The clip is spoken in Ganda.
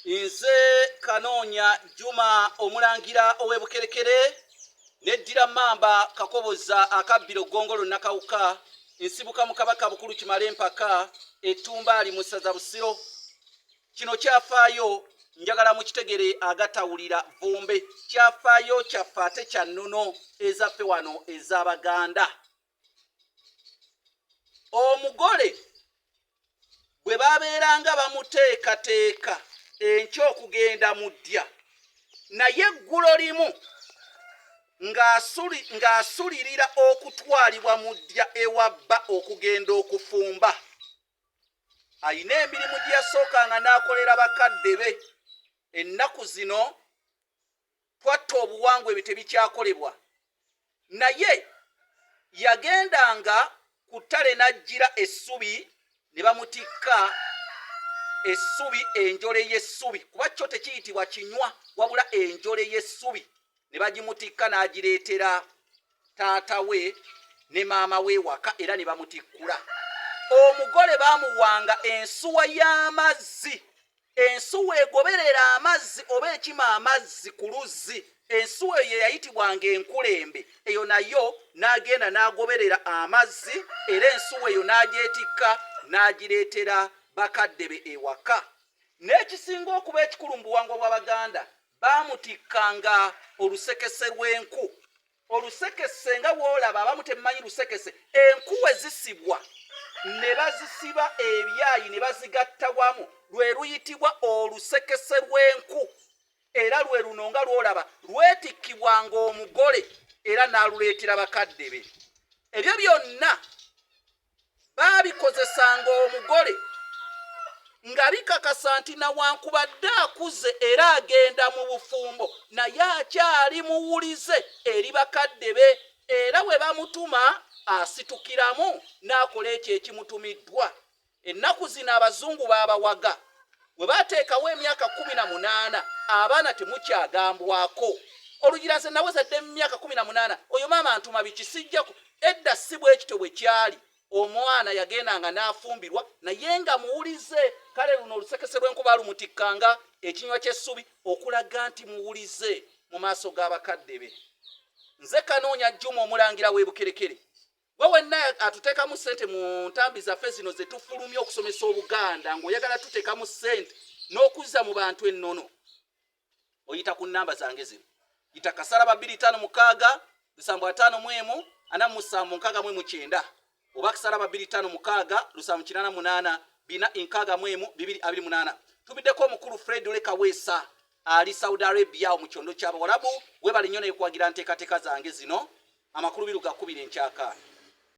Nze Kanoonya Juma omulangira ow'e Bukerekere neddira Mmamba Kakoboza akabbiro Ggongolo Nakawuka nsibuka mu Kabaka Bukulu Kimala Empaka Ettumbaali mu ssaza Busiro. Kino kyafaayo njagala mukitegere agatawulira vumbe kyafaayo kyaffe ate kya nnono ezaffe wano ez'Abaganda. omugole bwe babeeranga bamuteekateeka enkya okugenda mu ddya naye eggulo limu ng'asulirira okutwalibwa mu ddya ewa bba okugenda okufumba alina emirimu gye yasookanga n'akolera bakadde be ennaku zino Twatta obuwangwa ebyo tebikyakolebwa. Naye yagendanga ku ttale n'ajjira essubi ne bamutikka essubi enjole y'essubi kuba kyo tekiyitibwa kinywa wabula enjole y'essubi ne bagimutikka n'agireetera taata we ne maama we waka era ne bamutikkula. Omugole baamuwanga ensuwa y'amazzi Ensuwa egoberera amazzi oba ekima amazzi ku luzzi. Ensuwa eyo ye yayitibwanga enkulembe. Eyo nayo n'agenda n'agoberera amazzi era ensuwa eyo n'agyetikka n'agireetera bakadde be ewaka. N'ekisinga okuba ekikulu mu buwangwa bw'Abaganda, baamutikkanga olusekese lw'enku. olusekese nga wolaba abamu temumanyi lusekese enkuwe zisibwa ne bazisiba ebyayi ne bazigatta wamu lwe luyitibwa olusekese lw'enku era lwe luno nga lwolaba lwetikkibwa ng'omugole era n'aluleetera bakadde be ebyo byonna baabikozesanga omugole nga bikakasa nti nawankubadde akuze era agenda mu bufumbo naye akyali muwulize eri bakadde be era we bamutuma asitukiramu n'akola ekyo ekimutumiddwa ennaku zino abazungu baabawaga we bateekawo emyaka kumi na munaana abaana temukyagambwako olugiraze nawezadde mu myaka kumi na munaana oyo maama ntuma bikisijjako Edda si bwe kityo bwe kyali. Omwana yagendanga n'afumbirwa naye nga muwulize. Kale luno olusekese lw'enkuba lumutikka nga ekinywa ky'essubi okulaga nti muwulize mu maaso ga bakadde be. Nze Kanoonya Juma Omulangira w'e Bukerekere. Gwe wenna atuteekamu ssente mu ntambi zaffe zino ze tufulumya okusomesa Obuganda ng'oyagala tuteekamu ssente n'okuzza mu bantu ennono. oyita ku namba zange zino yita kasala babiri tano mukaga lusambo atano mwemu ana musambo nkaga mwemu kyenda oba kasala babiri tano mukaga lusambo kinana munana bina inkaga mwemu bibiri abiri munana tubideko mukuru fred leka wesa ali saudi arabia mu kyondo kyabo walabu webali nyona yekwagira nteka teka zange zino amakuru biruga kubire nchaka